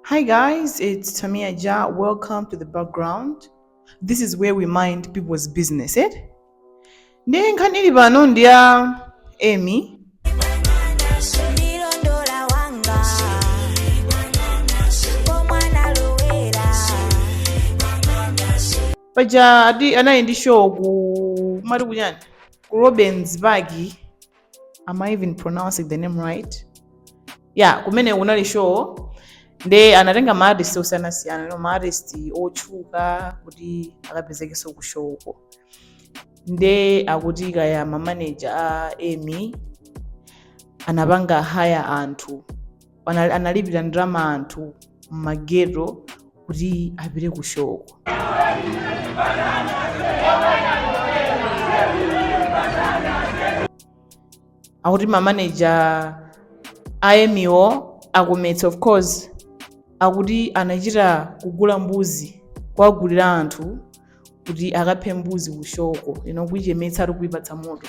Hi guys, it's Tamia Ja. Welcome to the background. This is where we mind people's business, eh? Nde nkhani ili pano ndi ya Emmie. Paja anali ndi show ku matikuchani ku Robensburg am i even pronouncing the name right ya kumene kunali show nde anatenga maartist osiyanasiyana no maartist otchuka kuti akapezekenso ku show ko nde akuti kaya mamaneja a Emmie anapanga hire anthu Anali- analipira ndalama anthu mmageto kuti apite ku show ko akuti mamaneja a Emmie wo Akometsi of course akuti anachita kugula mbuzi kuwagulira anthu kuti akaphe mbuzi ku show ko ina kuichemetsa ati kuipatsa moto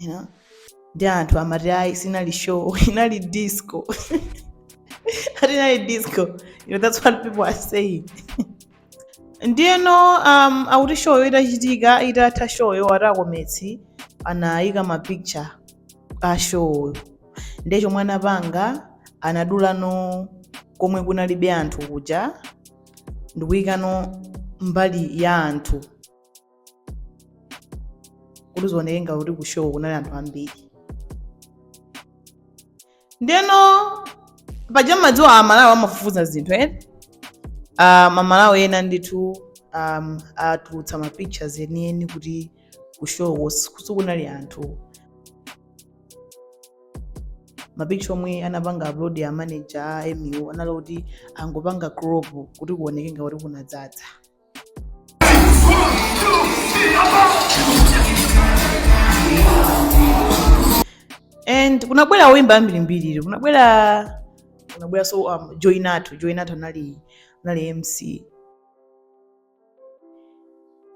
you know? nde anthu amati ayi sinali show inali disco ati inali disco you know, that's what people are saying ndiyeno um, akuti show yo itachitika itatha show yo ati Akometsi anayika ma picture a show ndiye chomwe anapanga anadulano komwe kunalibe anthu kuja ndikuyikano mbali ya anthu kuti zioneke ngati kuti ku show kunali anthu ambiri ndeno paja mmadziwa Amalawi amafufuza zinthu ena um, Amalawi ena ndithu um, atulutsa ma pictures enieni kuti ku show sikunali anthu mapicture omwe anapanga upload a manager a Emmie anali kuti anangopanga crop kuti kuoneke ngati kuti kunadzadza and kunabwera oimba ambirimbiri kunabwera kunabwera so um, Joy Nathu Joy Nathu anali anali mc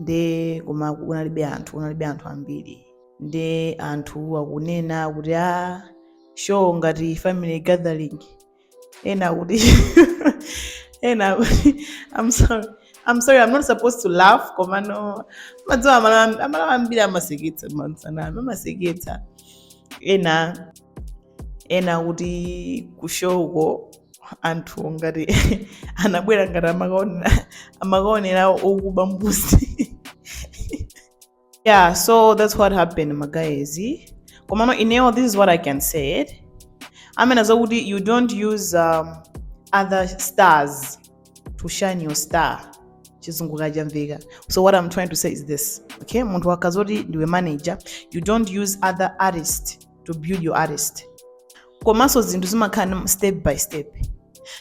nde koma kunalibe anthu kunalibe anthu ambiri nde anthu akunena kuti a show ngati family gathering ena akuti ena akuti i'm sorry i'm sorry i'm not supposed to laugh komano mmadziwa Amalawi ambiri amaseketsa mautsanami amaseketsa ena ena akuti ku show ko anthu ngati anabwera ngati amakaonera okuba mbuzi yeah so that's what happened magaezi komano ineo this is what i can say it amena zakuti you don't use um, other stars to shine your star chizungu kachamveka so what i'm trying to say is this okay munthu wakazoti ndiwe manager you don't use other artist to build your artist komanso zinthu zimakhala step by step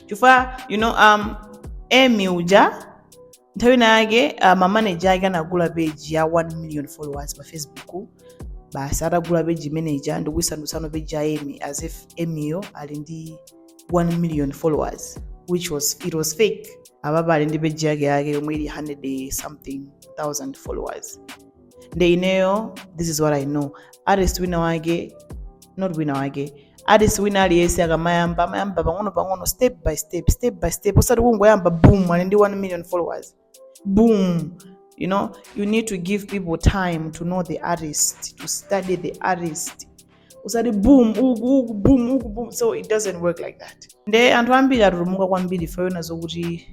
chifukwa you know um emi uja nthawi ina yake uh, mamanager ake anagula page ya 1 million followers pa facebook basi atagula page imene ija ndikuyisandutsano page ya emmie as if emmieyo ali ndi 1 million followers which was it was fake apapa ali ndi page yake yake yomwe ili 100 something thousand followers nde ineyo this is what i know artist wina wake not wina wake artist wina aliyense akamayamba amayamba pang'ono pang'ono step by step step by step osati kungoyamba boom ali ndi 1 million followers boom you know you need to give people time to know the artist to study the artist usati boom uku uku boom uku boom so it doesn't work like that nde anthu ambiri atutumuka kwambiri ife taona zokuti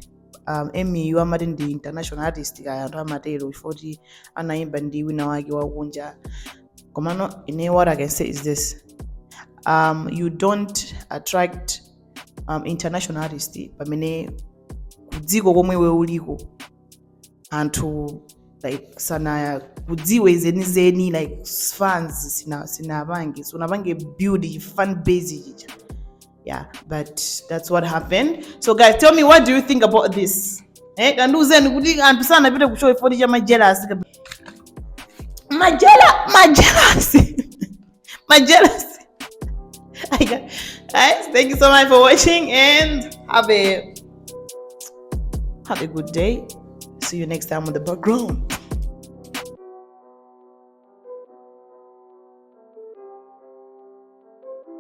um, emmieyu amati ndi international artist kaya anthu amatero chifukwa kuti anayimba ndi wina wake wakunja komano ine what i can say is this um, you don't attract um, international artist pamene kudziko komwe iwe uliko anthu like sanakudziwe zenizeni like fans sina sinapange sunapange build fan base chicha yeah but that's what happened so guys tell me what do you think about this eh kandiuzeni kuti anthu sanapite ku show ifoti cha majelasi majela majelasi majelasi guys thank you so much for watching and have a have a good day see you next time on the background